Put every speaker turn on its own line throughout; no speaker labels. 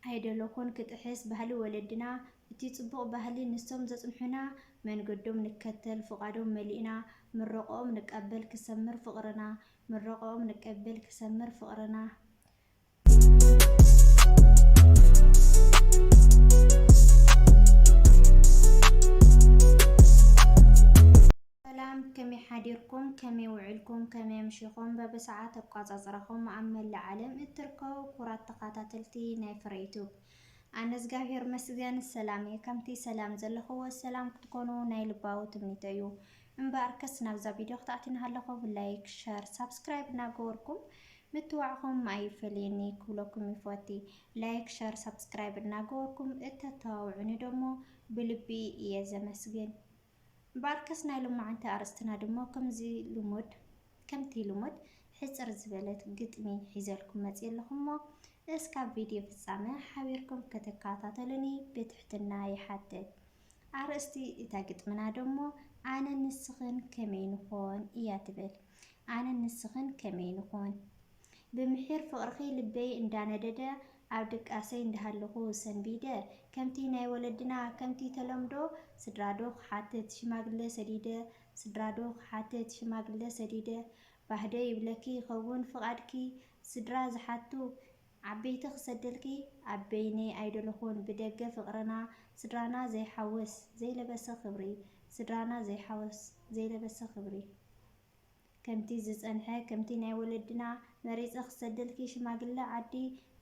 ኣይደለኹን ክጥሕስ ባህሊ ወለድና እቲ ጽቡቕ ባህሊ ንሶም ዘጽንሑና መንገዶም ንከተል ፍቓዶም መሊእና ምረቖኦም ንቀበል ክሰምር ፍቕርና ምረቖኦም ንቀበል ክሰምር ፍቕርና። ሰላም ከመይ ሓዲርኩም ከመይ ውዒልኩም ከመይ ኣምሺኹም በብሰዓት ኣቋጻጽራኹም ኣብ መላእ ዓለም እትርከቡ ክቡራት ተኻታተልቲ ናይ ፍረ ዩቱብ ኣነ እዝጋብሄር መስገን ሰላም እየ ከምቲ ሰላም ዘለኽዎ ሰላም ክትኮኑ ናይ ልባዊ ትምኒተይ እዩ እምበኣርከስ ናብዛ ቪድዮ ክትኣቲ እናሃለኹ ብላይክ ሸር ሳብስክራይብ እናገበርኩም ምትዋዕኹም ኣይፈለየኒ ክብለኩም ይፈቲ ላይክ ሸር ሳብስክራይብ እናገበርኩም እተተዋውዑኒ ደሞ ብልቢ እየ ዘመስግን እምበኣርከስ ናይ ሎማዓንቲ ኣርእስትና ድማ ከምዚ ልሙድ ከምቲ ልሙድ ሕጽር ዝበለት ግጥሚ ሒዘልኩም መጽየ ኣለኹ'ሞ እስካብ ቪድዮ ፍጻመ ሓቢርኩም ክትከታተሉኒ ብትሕትና ይሓትት። ኣርእስቲ እታ ግጥምና ደሞ ኣነን ንስኽን ከመይ ንኾን እያ ትብል። ኣነን ንስኽን ከመይ ንኾን? ብምሒር ፍቕርኺ ልበይ እንዳነደደ ኣብ ድቃሰይ እንዳሃለኹ ሰንቢደ ከምቲ ናይ ወለድና ከምቲ ተለምዶ ስድራ ዶ ክሓትት ሽማግለ ሰዲደ ስድራ ዶ ክሓትት ሽማግለ ሰዲደ ባህ ዶ ይብለኪ ይኸውን ፍቓድኪ ስድራ ዝሓቱ ዓበይቲ ክሰደልኪ ኣብ በይነይ ኣይደለኹን ብደገ ፍቕርና ስድራና ዘይሓውስ ዘይለበሰ ክብሪ ስድራና ዘይሓውስ ዘይለበሰ ክብሪ ከምቲ ዝጸንሐ ከምቲ ናይ ወለድና መሪጸ ክሰደልኪ ሽማግለ ዓዲ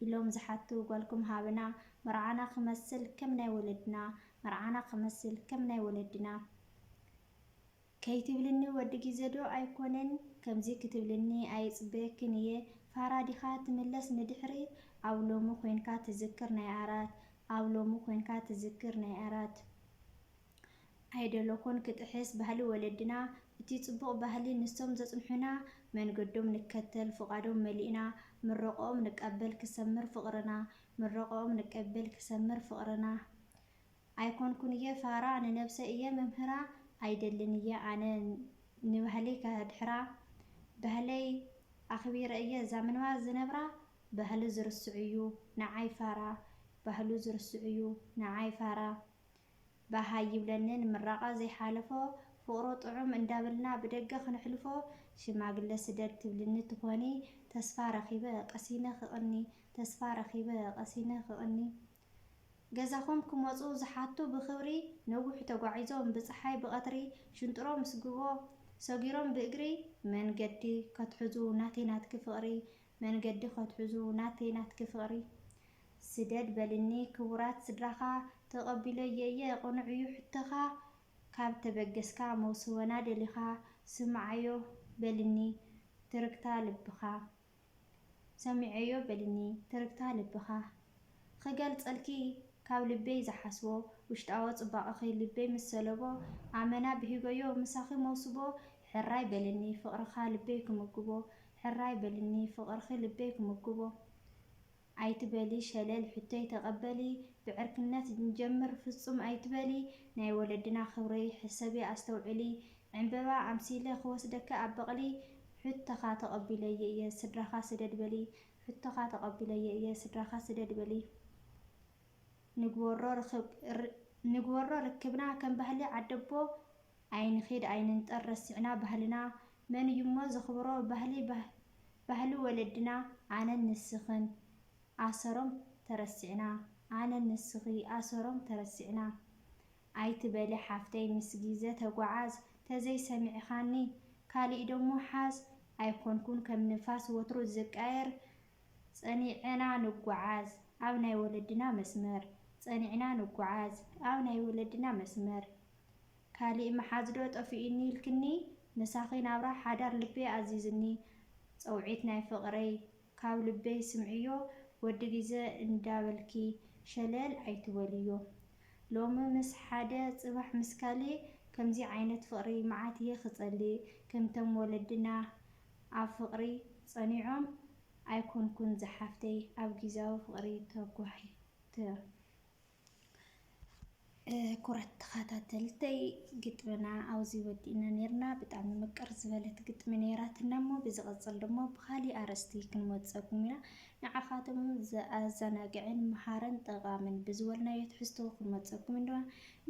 ኢሎም ዝሓቱ ጓልኩም ሃብና መርዓና ክመስል ከም ናይ ወለድና መርዓና ክመስል ከም ናይ ወለድና ከይትብልኒ ወዲ ግዜ ዶ ኣይኮነን ከምዚ ክትብልኒ ኣይጽበየክን እየ ፋራ ዲኻ ትምለስ ንድሕሪት ኣብ ሎሚ ኮንካ ትዝክር ናይ ኣራት ኣብ ሎሚ ኮንካ ትዝክር ናይ ኣራት ኣይደለኹን ክጥሕስ ባህሊ ወለድና እቲ ጽቡቕ ባህሊ ንሶም ዘጽንሑና መንገዶም ንከተል ፍቓዶም መሊእና ምረቐኦም ንቀበል ክሰምር ፍቕርና ምረቐኦም ንቀበል ክሰምር ፍቕርና ኣይኮንኩን እየ ፋራ ንነብሰይ እየ መምህራ ኣይደልን እየ ኣነ ንባህለይ ከድሕራ ባህለይ ኣኽቢረ እየ እዛ ምንባር ዝነብራ ባህሉ ዝርስዕ'ዩ ንዓይ ፋራ ባህሉ ዝርስዕ'ዩ ንዓይ ፋራ ባሃይ ይብለኒ ንምራቃ ዘይሓለፎ ፍቅሩ ጥዑም እንዳበልና ብደገ ክነሕልፎ ሽማግለ ስደድ ትብልኒ ትኮኒ ተስፋ ረኪበ ቀሲነ ክቅኒ ተስፋ ረኪበ ቀሲነ ክቅኒ ገዛኩም ክመጹ ዝሓቱ ብክብሪ ነዊሕ ተጓዒዞም ብጽሓይ ብቀትሪ ሽንጥሮ ምስ ግቦ ሰጊሮም ብእግሪ መንገዲ ከትሕዙ ናተይ ናትኪ ፍቅሪ መንገዲ ከትሕዙ ናተይ ናትኪ ፍቅሪ ስደድ በልኒ ክቡራት ስድራኻ ተቀቢሎዬ እየ ቅኑዕ እዩ ሕቶኻ ካብ ተበገስካ መውስቦና ደሊኻ ስምዓዮ በልኒ ትርግታ ልብኻ ሰሚዔዮ በልኒ ትርግታ ልብኻ ኽገልጸልኪ ካብ ልበይ ዝሓስቦ ውሽጣዎ ጽባቀኺ ልበይ ምስ ሰለቦ ኣመና ብሂጎዮ ምሳኺ መውስቦ ሕራይ በልኒ ፍቅርኻ ልበይ ክምግቦ ሕራይ በልኒ ፍቅርኺ ልበይ ክምግቦ ኣይትበሊ ሸለል ሕቶይ ተቀበሊ ብዕርክነት ንጀምር ፍጹም ኣይትበሊ ናይ ወለድና ክብሪ ሕሰቢ ኣስተውዕሊ ዕንበባ ኣምሲለ ክወስደኪ ኣብ በቅሊ ሕቶኻ ተቀቢለዮ እየ ስድራኻ ስደድ በሊ ሕቶኻ ተቀቢለዮ እየ ስድራኻ ስደድ በሊ ንግበሮ ርክብ ንግበሮ ርክብና ከም ባህሊ ዓደቦ ኣይንኺድ ኣይንንጠር ረሲዕና ባህልና መን እዩሞ ዘኽብሮ ባህሊ ባህሊ ወለድና ኣነን ንስኽን ኣሰሮም ተረሲዕና ኣነን ንስኺ ኣሰሮም ተረሲዕና ኣይትበሊ ሓፍተይ ምስ ጊዘ ተጓዓዝ ተዘይ ሰሚዕኻኒ ካሊእ ደሞ ሓዝ ኣይኮንኩን ከም ንፋስ ወትሩ ዝቃየር ፀኒዐና ንጓዓዝ ኣብ ናይ ወለድና መስመር ፀኒዕና ንጓዓዝ ኣብ ናይ ወለድና መስመር። ካሊእ ምሓዝ ዶ ጠፊኡኒ ኢልክኒ ምሳኺ ናብራ ሓዳር ልበይ ኣዚዙኒ ጸውዒት ናይ ፍቕረይ ካብ ልበይ ስምዕዮ ወዲ ግዘ እንዳበልኪ ሸለል ኣይትበልዮ ሎሚ ምስ ሓደ ጽባሕ ምስ ካሊእ ከምዚ ዓይነት ፍቕሪ መዓት እየ ክጸልእ ከምቶም ወለድና ኣብ ፍቕሪ ጸኒዖም ኣይኮንኩን ዝሓፍተይ ኣብ ግዝያዊ ፍቕሪ ተጓሒተ ኩራት ተኻታተልተይ ግጥምና ኣብዚ ወዲእና ነርና ብጣዕሚ ምቅር ዝበለት ግጥሚ ነራትና እሞ ብዝቕጽል ድማ ብኻሊእ ኣርእስቲ ክንመጸኩም ኢና ንዓኻቶም ዘኣዘናግዕን መሃርን ጠቓምን ብዝበልናዮ ትሕዝቶ ክንመጸኩም ኢና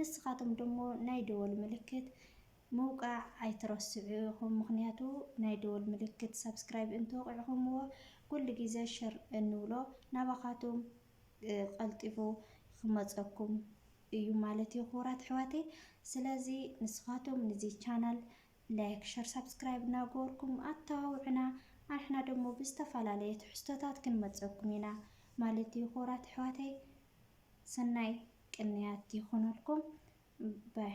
ንስኻቶም ደሞ ናይ ደወል ምልክት ምውቃዕ ኣይትረስዑ ኢኹም ምክንያቱ ናይ ደወል ምልክት ሳብስክራይብ እንተወቂዕኹምዎ ኩሉ ግዜ ሸር እንብሎ ናባኻቶም ቀልጢፉ ክመፀኩም እዩ ማለት እዩ ክቡራት ኣሕዋተይ። ስለዚ ንስኻቶም ንዚ ቻናል ላይክ፣ ሸር፣ ሳብስክራይብ እናገበርኩም ኣተባብዑና። ኣንሕና ደሞ ብዝተፈላለየ ትሕዝቶታት ክንመፀኩም ኢና ማለት እዩ ክቡራት ኣሕዋተይ። ሰናይ ቅንያት ይኹነልኩም ባይ